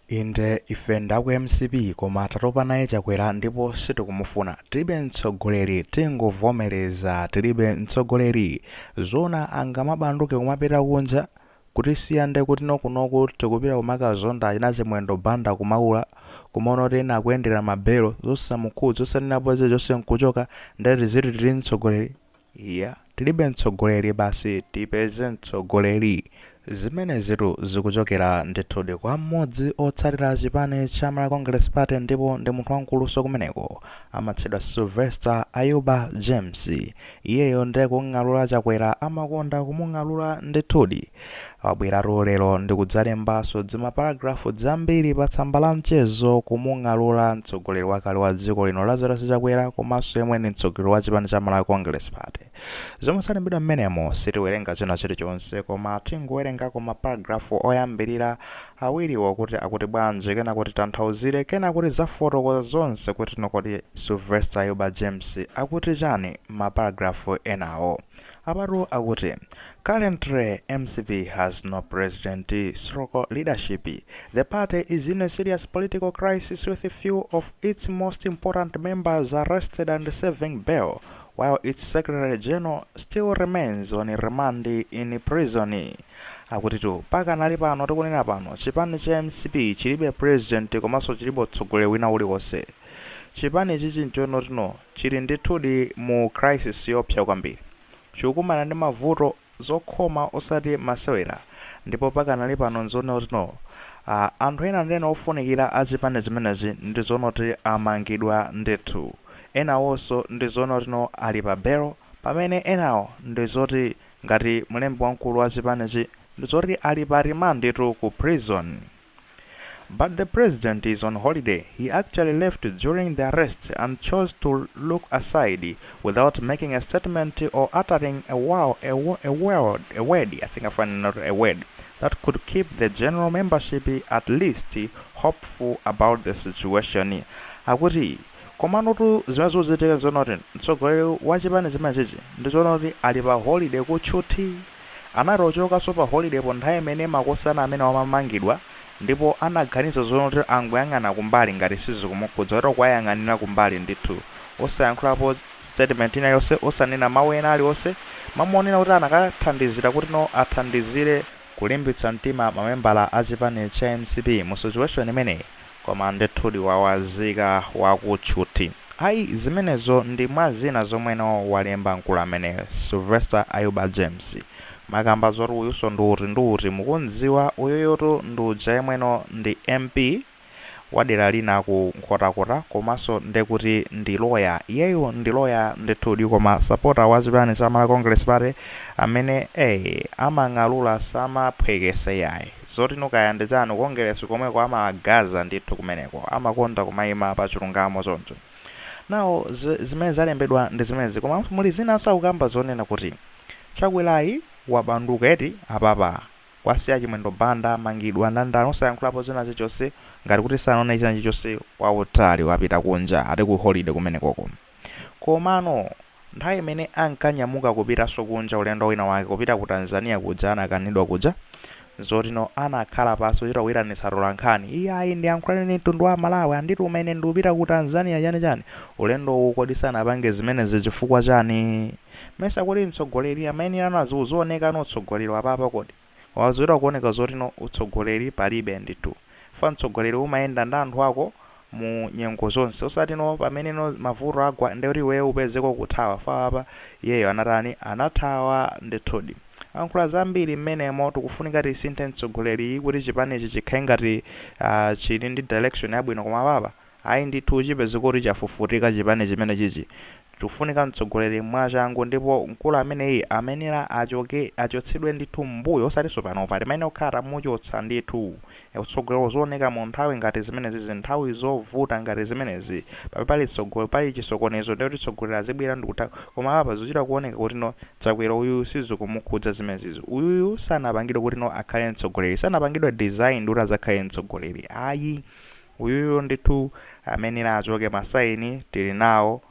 Inde ife ndaku mcp koma tatopa naye Chakwera ndipo sitikumufuna. Tilibe mtsogoleri tingovomereza tilibe mtsogoleri. Zoona angamabanduke kumapita kunja? Kutisiya nde kuti no kunoku tikupita kumakazonda achina Chimwendo Banda ku Maula. Kumaona kuti ena akuyendera ma belo. Zosamukhudza osanenapo chilichonse nkuchoka nde tiziti tili ndi mtsogoleri? Iya tilibe mtsogoleli basi tipeze mtsogoleli zimenezitu zikuchokela ndithudi kwa mmodzi otsatila chipani cha Malawi Congress Party ndipo ndi munthu wankuluso kumeneko amatchedwa Sylvester Ayuba James iyeyo ndiye kung'alula Chakwera amakonda kumung'alula ndithudi Wabweratu lero ndikudzalembaso dzima paragraph dzambiri pa tsamba la mchezo kumung'alula mtsogoleri wakale wa dziko lino Lazarus Chakwera komaso yemwe ndi mtsogoleri wa chipani cha Malawi Congress Party. Zomwe zalembedwa mmenemo sitiwerenga china chilichonse koma tingowerengako ma paragraph oyambirira awiriwo kuti akuti bwanji kenako titanthauzire kenako tizafotokoza zonse kuti no kodi Sylvester Ayuba James akuti chani mma paragraph enawo. Apatu akuti Currently mcp has no president stroke leadership, the party is in a serious political crisis with few of its most important members arrested and serving bail while its secretary general still remains on remand in prison. Akutitu pakanali pano tikunena pano chipani cha mcp chilibe president komanso chilibe utsogoleri wina uliwonse. Chipani ichichi nchonoti no chili ndithudi mu crisis yoopsa kwambiri. chikukumana ndi mavuto, zokhoma osati masewera ndipo pakanali pano nzoona kuti no. Ah, anthu ena ndi ena ofunikira a chipani chimenechi ndi zoona kuti amangidwa ndithu. Enawonso ndi zoona kuti no ali pa belo pamene enawo ndi zoti ngati mlembi wamkulu wa chipanichi ndi zoti ali pa remand tu ku prison. But the president is on holiday, he actually left during the arrest and chose to look aside without making a statement or uttering a, wow, a, a, word, a word, I think I find not a word, that could keep the general membership at least hopeful about the situation. Akuti komano tu zimene zikuchitika nzoona kuti mtsogoleri wa chipani chimenechi ndi zoona kuti ali pa holiday kutchuthi Anachokaso pa holiday po nthawi imene makosana amenewa amamangidwa ndipo anaganiza zonoti angoyang'ana kumbali ngati sizikumukhudza kuti kuwayang'anila kumbali ndithu osayankhulapo statement ina iliyose osanena mau ena aliwose mamuonela kuti anakathandizila kuti no athandizile kulimbitsa mtima mamembala achipani cha mcp mu situation imeneyi. Koma ndithudi wawazika waku tchuthi. Ayi zimenezo ndi mwa zina zomweno walemba mkulu ameneyo, Silvester Ayuba James. Mukamba zoti uyuso ndi uti ndi uti mukum'dziwa? Uyuyotu ndi uja yemweno ndi MP wa dera lina ku Nkhotakota komanso nde kuti ndi loya. Iyeyu ndi loya ndithudi koma sapota wa chipani cha Malawi Congress Party amene ee amang'alura samaphweketsa iyayi. Zotino kaya ndi za ku Kongeresi komweko amawagaza ndithu kumeneko amakonda kumaima pa chilungamo choncho now zimene zalembedwa ndi zimenezi koma muli zinanso akukamba zonena kuti Chakwerayu wabanduka eti apapa kuwasiya Chimwendo Banda amangidwa ndani ndani osayankhulapo zina zichonse ngati kuti sanaone china chichonse kwautali wapita kunja ati ku holiday kumenekoko. Komano, nthawi imene ankanyamuka kupitanso kunja ulendo wina wake kupita ku Tanzania kuja anakanidwa kuja, zotino anakhala pansi kuchita kuitanitsa atolankhani, iyayi ndiyankhulane ndi mtundu wa Amalawi, andituma ine ndikupita ku Tanzania chani chani, ulendowu kodi sanapange zimenezi chifukwa chani? Mesa kodi mtsogoleri amayenera uzioneka utsogoleri wa apapa kodi? Ukuchita kuoneka zotino utsogoleri palibe ndithu. Chifukwa mtsogoleri umayenda ndi anthu ako mu nyengo zonse. Osatino pameneno mavuto agwa ndekuti iweyo upezeke ukuthawa. Chifukwa apa iyeyo anatani? Anathawa ndithudi. Ankhula zambiri mmenemo tikufunika tisinthe mtsogoleriyu kuti chipanichi chikhale ngati chili ndi direction yabwino koma apapa. Ayi ndithu chipeze kuti chafufutika chipani chimene chichi tikufunika mtsogoleri mwachangu ndipo mkulu ameneyi amayenera achotsedwe ndithu mmbuyo osatinso panopa timayenera kukhala tamuchotsa ndithu utsogoleri uzioneka munthawi ngati zimenezi nthawi zovuta ngati zimenezi pamene pali chisokonezo ndekuti mtsogoleri azibwera ndikutha koma apa zikuchita kuoneka kutino Chakwera uyuyu sizikumukhudza zimenezizi uyuyu sanapangidwe kutino akhale mtsogoleri sanapangidwe design kuti adzakhale mtsogoleri ayi Uyuyu ndithu amayenera achoke ma sign tili nawo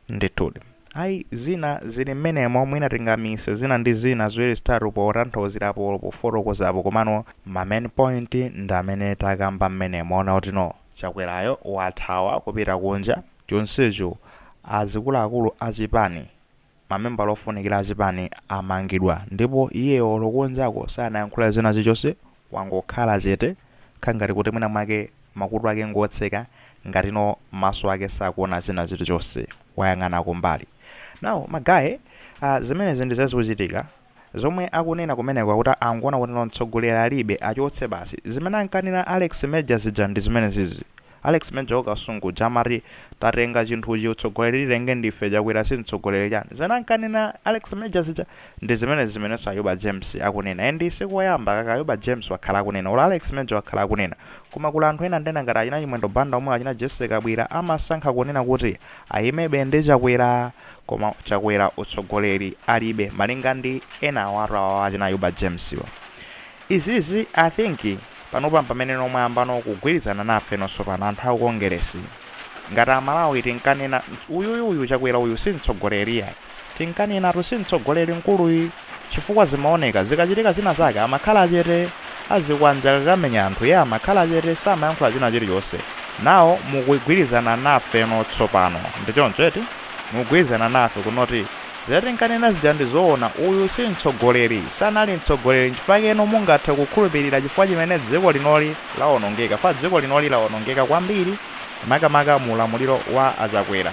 ndithudi ayi zina zili mmenemo mwina tingaamise zina ndi zina ziwiri zitatu potanthauzirapo olo pofotokozapo komano ma main point ndi amene takamba mmenemo mwaona kutino Chakwerayo wathawa kupita kunja chonsecho azikuluakulu a chipani mamembala ofunikira achipani amangidwa ndipo iyeyo olo kunjako sanayankhule china chilichonse wangokhala chete kukhala ngati kuti mwina mwake makutu ake ngotseka ngatino maso ake sakuona china chilichonse wayang'ana kumbali now magaye zimenezi ndi zimene zikuchitika Zomwe akunena kumeneko akuti angoona kuti no mtsogoleri alibe, achoke basi. Zimene ankanena Alex Major zija ndi zimenezizi. Alex Major wa Kasungu uja amati tatenga chinthuchi utsogoleri titenge ndife Chakwera si mtsogoleri chani. Zimene ankanena Alex Major zija ndi zimenezi zimenenso Ayuba James akunena. And si koyamba kaka Ayuba James wakhala akunena or Alex Major wakhala akunena. Koma kuli anthu ena ndena ngati achina Chimwendo Banda omwe achina Jessie Kabwira amasankha kunena kuti ayimabe ndi Chakwera. Koma chakwera utsogoleri alibe malinga ndi enawatu awawa achina ayuba james wa. Izizi i think panopa mpameneno mwayambano kugwirizana nafeno sopano anthu aku Kongeresi. Ngati amalawi tinkanena uyuyu uyu chakwera uyu simtsogoleri ai. Tinkanenatu simtsogoleri mkuluyi. chifukwa zimaoneka zikachitika zina zake amakhala chete azikwanje akakamenya anthu iye amakhala chete samayankhula china chilichonse now mukugwirizana nafeno tsopano ndi choncho eti mukugwirizana nafe kunoti zija tinkanena zija ndi zoona uyu si mtsogoleri sanali mtsogoleri nchifukwa chake inu mungathe kukhulupirira chifukwa chomwe dziko linoli lawonongeka fukwa dziko linoli lawonongeka kwambiri makamaka mu ulamuliro wa a Chakwera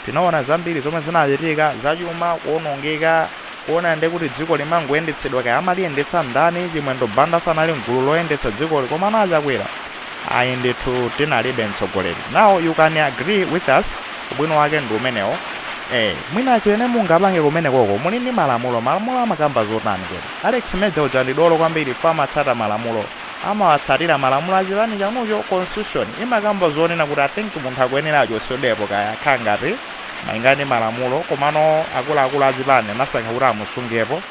tinaona zambiri zomwe zinachitika zachuma kuonongeka Kuona ndi kuti dziko limangoyendetsedwa kaya amaliyendetsa ndani chimwendo banda sanali mgulu loyendetsa dzikoli komano achakwera ayi ndithu tinalibe mtsogoleri now you can agree with us ubwino wake ndi umenewo ee mwina chimene mungapange kumenekoko muli ndi malamulo malamulo amakamba zotani kodi alex major uja ndi dolo kwambiri chifukwa amatsata malamulo amawatsatira malamulo achipani chanucho constitution imakamba zonena kuti i think munthu akuyenera achotsedwepo kaya akhala ngati Malingana ndi malamulo komano akuluakulu a chipani anasankha kuti amusungepo.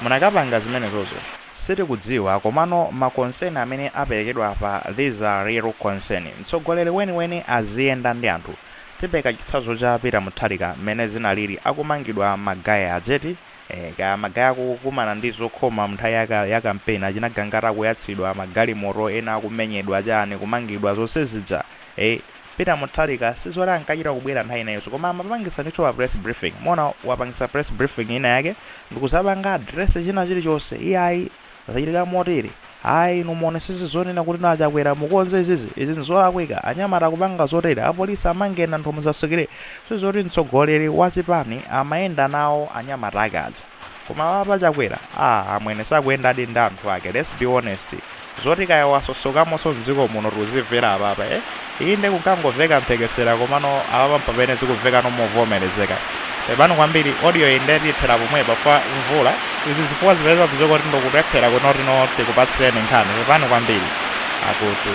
Munakapanga zimenezozo? Sitikudziwa komano ma concern amene aperekedwa apa these are real concern. Mtsogoleri weniweni aziyenda ndi anthu. Tipereka chitsanzo cha Peter Mutharika mmene zinaliri akumangidwa ma guy aja eti? Eeh kaya ma guy akukumana ndi zokhoma mnthawi ya campaign achina Gangata akuyatsidwa ma galimoto ena akumenyedwa chani kumangidwa zonse zija? Eeh. Peter Mutharika sizoti ankachita kubwera nthawi inayonso koma amapangisa ndithu ma press briefing muona wapangisa press briefing ina yake ndikuzapanga address china chilichonse iyayi zachitika motere ayi inu muonesese zonena kuti inu achakwera mukonze izizi izi nzolakwika anyamata akupanga zotere apolisi amangeni anthu musasekerere sizoti mtsogoleri wachipani amayenda nawo anyamata ake aja Koma awa apa chakwera aa amwene sakuyendadi ndi anthu ake let's be honest zoti kaya wachokamonso mdziko muno tikuzimvera apapa e inde kunkangoveka mphekesera komano apapa mpamene zikumvekano movomerezeka pepani kwambiri audioyi nde tiyithera pomwepa fukwa mvula izi zifukwa zipeza kudziwika kuti ndikulephera kunoti tikupatsireni nkhani pepani kwambiri akuti.